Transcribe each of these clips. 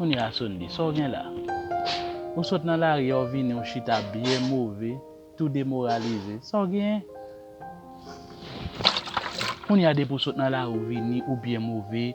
Kounye a Sundy, sa w gen la? Ou sot nan lari a w vini w chita byen move, tou demoralize. Sa w genyen? Kounye a depi w sot nan lari w vini ou byen move,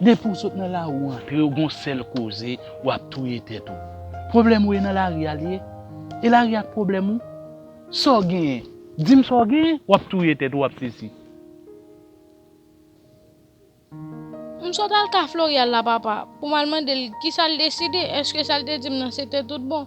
Depi w sot nan lari w antre w gon sèl koze w ap touye tèt ou. Pwoblèm ou e nan lari a li ye? E lari a k pwoblèm ou? Sa w genyen? Di m sa w genyen? W ap touye tèt ou w ap sesi. M sot al ka Floryal la papa pou m al mande l kisa l deside, èske sa l te di m nan se te tout bon?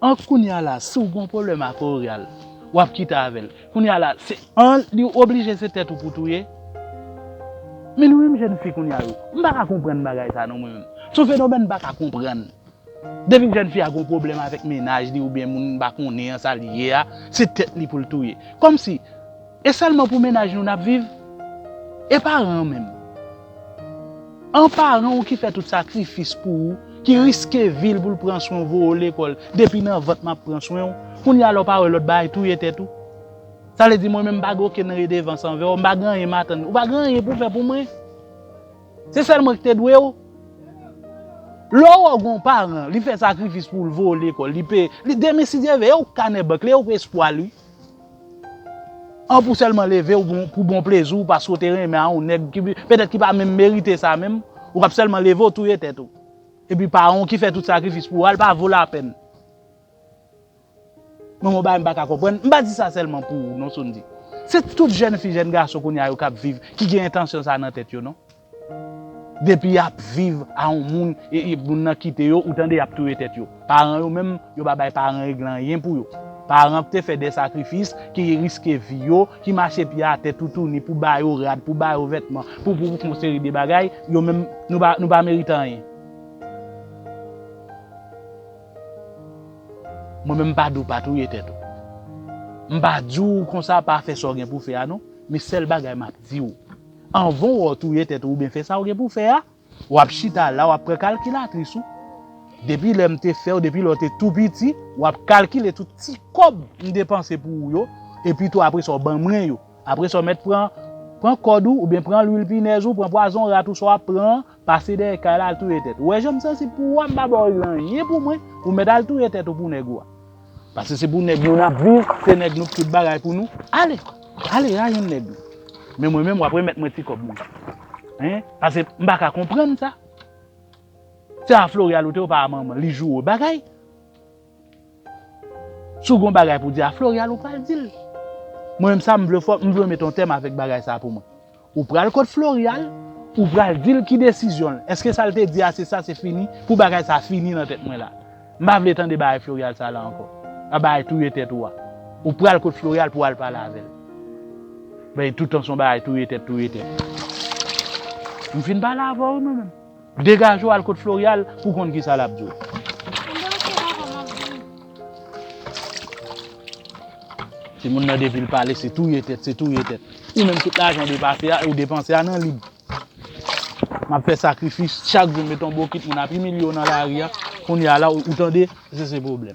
An kounya la si w gon pwoblèm ak Orial wap kite avè l kounya la se an li oblije se tèt ou pou touye men nou menm jèn fi kounya yo m paka konprann bagay sa non mwen menm s on fenomèn m paka konprann depi jèn fi a gon pwoblèm avèk mennaj li oubyen moun m pa konnen an sa l ye a se tèt li pou l touye kòmsi e sèlman pou mennaj nou nap viv e paran an menm. An paran ou ki fè tout sakrifis pou ou, ki riske vil pou l pran swen w voye w lekòl, depi nan vant map pran swen w, kounya la w pa wè lòt bagay touye tèt ou? Sa vle di mwen menm m pa gen okenn redevans anvè w, m pa gen anyen m atann, ou pa gen anyen pou w fè pou mwen? Se sèl mwen ki te dwe w? Lè w wè gon paran li fè sakrifis pou w l voye w lekòl, li peye, li demen si Dye vle e w k kanè bank li e w k espwa l wi. An pou sèlman leve w pou bon plezi w paske w te renmen a yon nèg petèt ki pa menm merite sa menm, ou kab sèlman leve w touye tèt ou. Epi pa yon ki fè tout sakrifis pou ou a, li pa vo lapèn. Mwen gen yon bagay m pa ka konprann, m pa di sa sèlman pou ou non Sondy. Se tout jèn fi, jèn gason kounye a yo k ap viv ki gen entansyon sa nan tèt yo non. Depi yap viv a yon moun e moun nan kite yo ou tande yap touye tèt yo. Paran yo menm yo pa bay paran règle anyen pou yo. Paran te fè de sakrifis, ki riske vi yo, ki mache pye atè toutouni pou ba yo rad, pou ba yo vètman, pou pou yon seri de bagay, yo menm nou pa merite anyen. Mwen menm mpa diw pa touye tèt ou. Mpa diw konsa pa fè sa w gen pou fè a non, men sèl bagay map diw. Anvan w'o touye tèt ou oubyen fè sa ou gen pou fè a, w'ap chita la w'ap pran kalkilatris ou. Depi lè m te fè ou, depi lè ou te tou piti, w'ap kalkile tout ti kòb m depanse pou ou yo, epi tou apre sa ou ban mwen yo. Apre sa ou mèt pran, pran kòd ou, oubyen pran lwil pinèz ou, pran pwazon rat ou sa w'ap pran an, pase dèyè kay la al touye tèt ou. Ou wè jan m sansib pou ou a, m pa ba ou anyen pou mwen, ou mèt al touye tèt ou pou nèg ou a. Pase se pou nèg nou nap viv, se nèg nou k tout bagay pou nou, ale, ale rayon nèg nou. Men mwen menm wap remèt mwen ti kòb mwen. Hein, pase m pa ka konprann sa. Se a Floreal ou te ou pa a manman, li joure w bagay. Si w gon bagay pou di a Floreal ou pral di l. Mwen menm sa m vle fò, m vle w met yon tèm avèk bagay sa pou mwen. Ou pral kot Florial, ou pral di l ki desizyon l. Eske sa l te di a se sa se fini? Pou bagay sa fini nan tèt mwen la. M pa vle tande bagay Florial sa la ankò. A bagay touye tèt ou a. Ou pral kot Florial pou w al pale avè l. Bay toutan s on bagay touye tèt touye tèt. M fin pale avè w wi mwen menm. Degaje w al kot Floreal pou w konn kisa lap di w. Timoun nan depi l pale se touye tèt, se touye tèt. Ou menm tout lajan ou depanse a nan lib. Map fè sakrifis chak jou met yon bokit moun ap imilye w nan lari a. Kounya la ou tande se se pwoblèm.